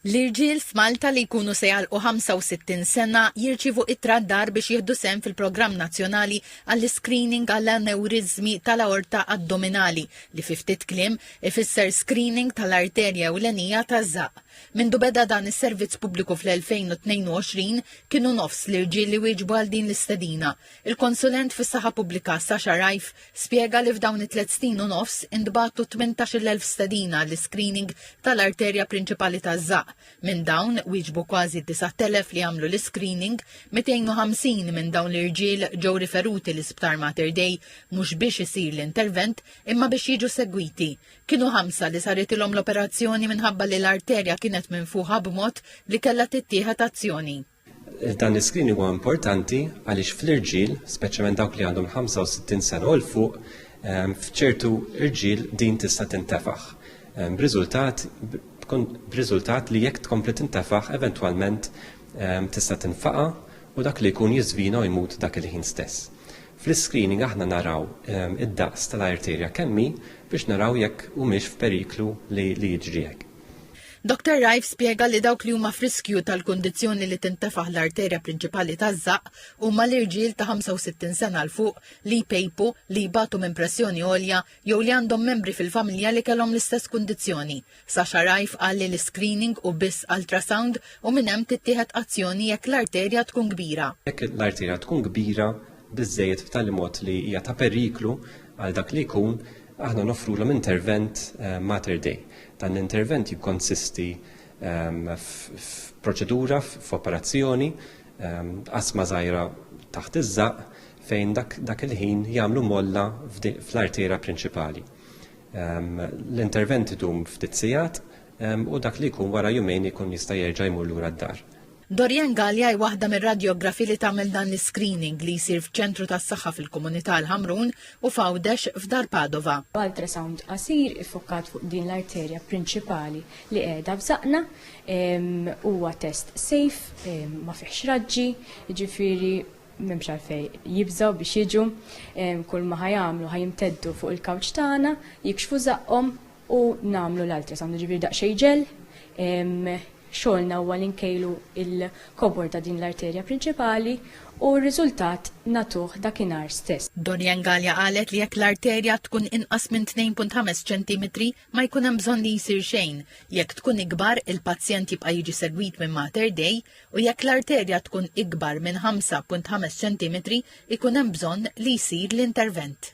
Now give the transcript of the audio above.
L-irġiel f'Malta li jkunu se jagħlqu 65 sena jirċievu ittra d-dar biex jieħdu sehem fil-programm nazzjonali għall-iscreening għall-anewriżmi tal-aorta addominali, li fi ftit kliem ifisser screening tal-arterja ewlenija taż-żaqq. Mindu beda dan is-servizz pubbliku fl-2022, kienu nofs l-irġiel li wieġbu għal din l-istedina. Il-konsulent fis-saħħa pubblika Sasha Reiff spjega li f'dawn it-tliet snin u nofs intbagħtu 18,000 stedina għall-iscreening tal-arterja prinċipali taż-żaqq. Minn dawn, wieġbu kważi 9,000 li għamlu l-iscreening, 250 minn dawn l-irġiel ġew riferuti l-Isptar Mater Dei mhux biex isir l-intervent imma biex jiġu segwiti. Kienu ħamsa li saritilhom l-operazzjoni minħabba li l-arterja kienet minfuħa b'mod li kellha tittieħed azzjoni. Dan l-iskrin huwa importanti għaliex fl-irġiel, speċjalment dawk li għandhom 65 sena u l-fuq, ehm, f'ċertu irġiel din tista' tintefaħ. Ehm, b'riżultat b'riżultat li jekk tkompli tintefaħ eventwalment ehm, tista' tinfaqa u dak li jkun jiżvina u jmut dak il-ħin stess. Fl-screening aħna naraw id-daqs tal-arterja kemmi biex naraw jekk humiex f'periklu li jiġri hekk. Doctor Rife spjega li dawk li huma f'riskju tal-kundizzjoni li tintefaħ l-arterja prinċipali taż-żaqq huma l-irġiel ta' 65 sena 'l fuq li jpejpu, li jbatu minn pressjoni għolja jew li għandhom membri fil-familja li kellhom l-istess kundizzjoni. Sasha Rife qal li l-iscreening hu biss ultrasound u minn hemm tittieħed azzjoni jekk l-arterja tkun kbira. Jekk l-arterja tkun kbira biżżejjed b'tali mod li hija ta' periklu għal dak li jkun, aħna noffrulhom intervent eh, Mater Dei. Dan l-intervent jikkonsisti ehm, f'proċedura, f'operazzjoni, ehm, asma żgħira taħt iż-żaq fejn dak il-ħin jagħmlu molla fl-artera prinċipali. Ehm, l-intervent idum ftit sigħat u dak li jkun wara jumejn ikun jista' jerġa' jmur lura d-dar. Dorianne Gallia hi waħda mir-radjografi li tagħmel dan l-iscreening li jsir f'ċentru tas-saħħa fil-komunità l-Ħamrun u f'Għawdex f'Dar Padova. B'ultrasound qasir iffokkat fuq din l-arterja prinċipali li qiegħda f'żaqqna, huwa test safe, ma fihx raġġi, jiġifieri m'hemmx għalfejn jibżgħu biex jiġu, kulma ħa jagħmlu ħa jimteddu fuq il-kawċ tagħna, jikxfu żaqqhom u nagħmlu l-ultrasound, jiġifieri daqsxejn ġel, xogħolna huwa li nkejlu l-kobor ta' din l-arterja prinċipali u r-riżultat nagħtuh dakinhar stess. Dorian Galea qalet li jekk l-arterja tkun inqas minn 2.5 ċentimetri ma jkun hemm bżonn li jsir xejn, jekk tkun ikbar il-pazjent jibqa' jiġi segwit minn Mater Dei u jekk l-arterja tkun ikbar minn 5.5 ċentimetri jkun hemm bżonn li jsir l-intervent.